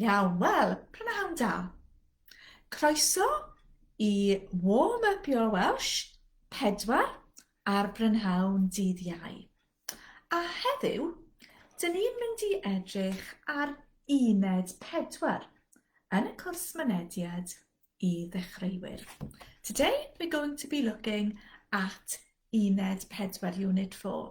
Iawn, wel, prynhawn da. Croeso i Warm Up Your Welsh 4 ar brynhawn dydd Iau. A heddiw, dyn ni'n mynd i edrych ar uned 4 yn y cwrs mynediad i ddechreuwyr. Today we're going to be looking at uned 4, unit 4.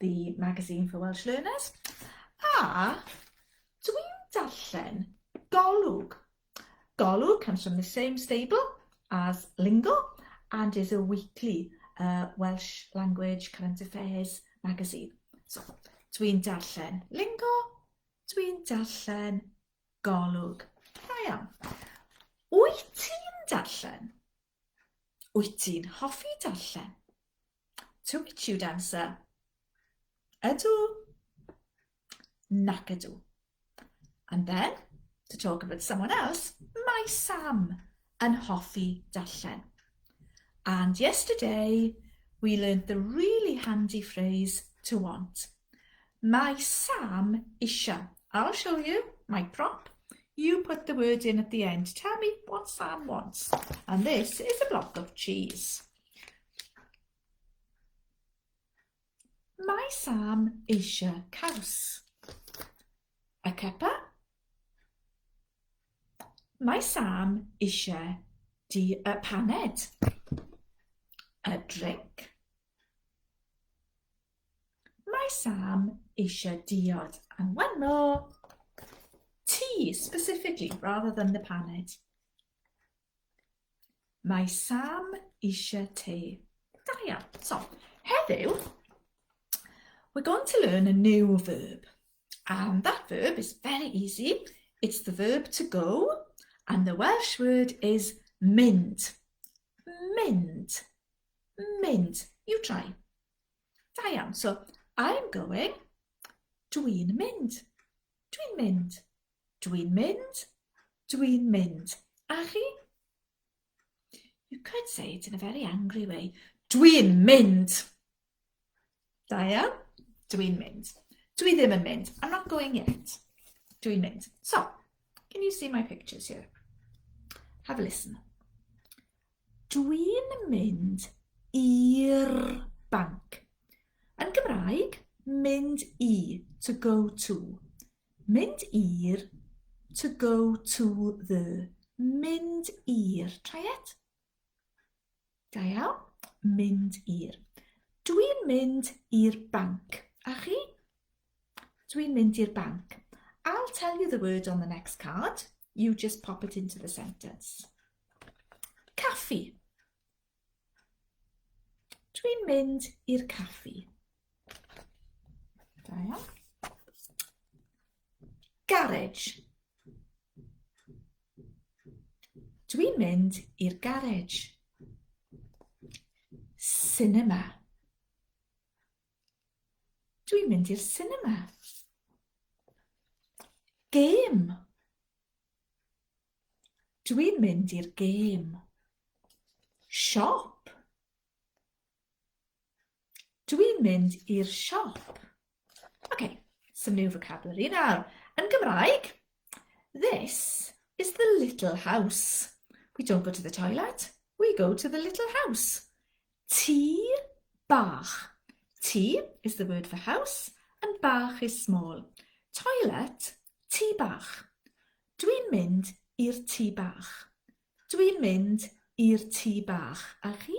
The Magazine for Welsh Learners, a dwi'n darllen Golwg. Golwg comes from the same stable as Lingo and is a weekly uh, Welsh language current affairs magazine. So, dwi'n darllen Lingo, dwi'n darllen Golwg. Da iawn. Wyt ti'n darllen? Wyt ti'n hoffi darllen? To which you'd answer, ydw, nac ydw. And then, to talk about someone else, mae Sam yn hoffi darllen. And yesterday, we learned the really handy phrase to want. Mae Sam eisiau. I'll show you my prop. You put the word in at the end. Tell me what Sam wants. And this is a block of cheese. Mae Sam eisiau caws. A cuppa. Mae Sam eisiau di y paned. A drink. Mae Sam eisiau diod yn wano. Tea, specifically, rather than the paned. Mae Sam eisiau te. Da iawn. So, heddiw, we're going to learn a new verb. And that verb is very easy. It's the verb to go, and the Welsh word is mynd. Mynd. mynd. You try. Da iawn. So, I'm going. Dwi'n mynd. Dwi'n mynd. Dwi'n mynd. Dwi'n mynd. A chi? You could say it in a very angry way. Dwi'n mynd. Da iawn. Dwi'n mynd. Dwi ddim yn mynd. I'm not going yet. Dwi'n mynd. So, can you see my pictures here? Have a listen. Dwi'n mynd i'r banc. Yn Gymraeg, mynd i, to go to. Mynd i'r, to go to the. Mynd i'r. Try it. Da iawn. Mynd i'r. Dwi'n mynd i'r banc. A chi? Dwi'n mynd i'r banc. I'll tell you the word on the next card. You just pop it into the sentence. Caffi. Dwi'n mynd i'r caffi. Da iawn. Garage. Dwi'n mynd i'r garage. Cinema. Dwi'n mynd i'r cinema. Gêm. Dwi'n mynd i'r gêm. Siop. Dwi'n mynd i'r siop. OK, some new vocabulary nawr. Yn Gymraeg, this is the little house. We don't go to the toilet, we go to the little house. Tŷ bach. Tŷ is the word for house and bach is small. Toilet, tŷ bach. Dwi'n mynd i'r tŷ bach. Dwi'n mynd i'r tŷ bach. A chi?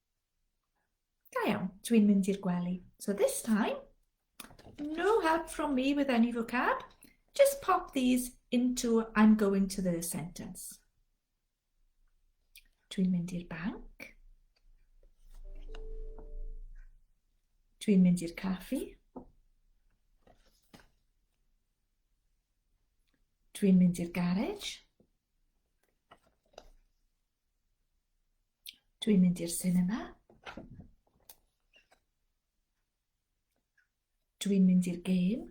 Da iawn, dwi'n mynd i'r gwely. So this time, no help from me with any vocab. Just pop these into I'm going to the sentence. Dwi'n mynd i'r banc. Dwi'n mynd i'r caffi. Dwi'n mynd i'r garej. Dwi'n mynd i'r sinema. Dwi'n mynd i'r gêm.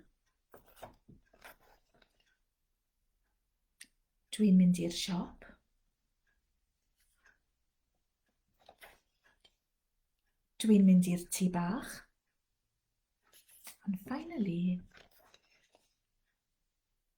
Dwi'n mynd i'r siop. Dwi'n mynd i'r tŷ bach. And finally,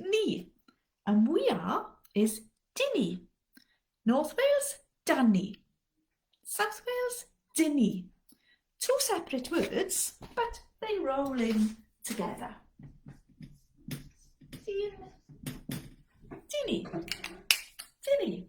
Ni. And we are is dyn ni. North Wales, dan ni. South Wales, dyn ni. Two separate words, but they roll in together. Dyn. Dyn ni. Dyn ni.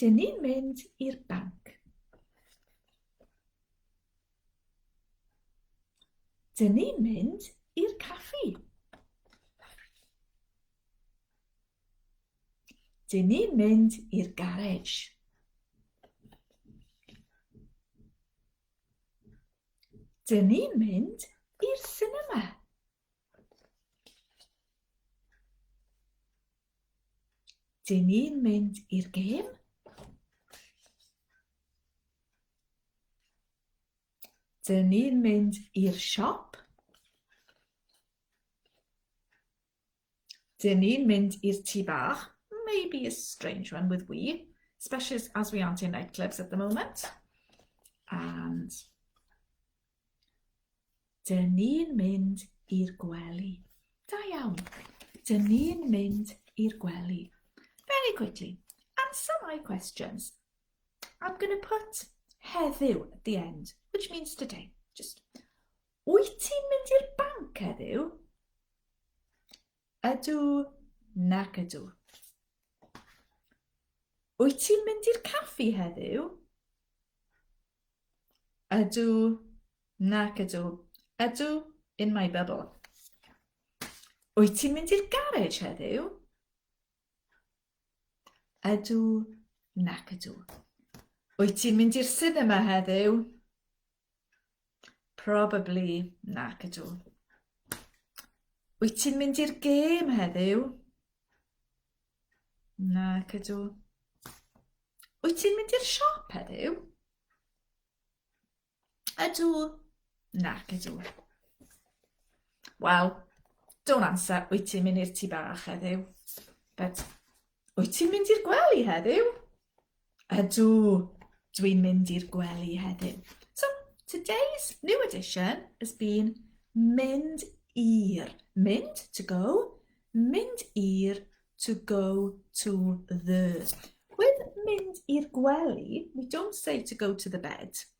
Dyn ni'n mynd i'r banc. Dyn ni'n mynd i'r caffi. Dyn ni'n mynd i'r garej. Dyn ni'n mynd i'r sinema. Dyn ni'n mynd i'r gêm. Dyn ni'n mynd i'r siop. Dyn ni'n mynd i'r tŷ bach. Maybe a strange one with we, especially as we aren't in nightclubs at the moment. And Dyn ni'n mynd i'r gwely. Da iawn. Dyn ni'n mynd i'r gwely. Very quickly, answer my questions. I'm going to put heddiw at the end, which means today. Just, wyt ti'n mynd i'r banc heddiw? Ydw, nac ydw. Wyt ti'n mynd i'r caffi heddiw? Ydw, nac ydw. Ydw, in my bubble. Wyt ti'n mynd i'r garej heddiw? Ydw, nac ydw. Wyt ti'n mynd i'r cinema heddiw? Probably, nac ydw. Wyt ti'n mynd i'r gêm heddiw? Nac ydw. Wyt ti'n mynd i'r siop heddiw? Ydw. Nac ydw. Wel, don't answer, wyt ti'n mynd i'r tŷ bach heddiw? But, wyt ti'n mynd i'r gwely heddiw? Ydw, dw i'n mynd i'r gwely heddiw. So, today's new edition has been mynd i'r. Mynd, to go, mynd i'r, to go to the. With mynd i'r gwely, we don't say to go to the bed.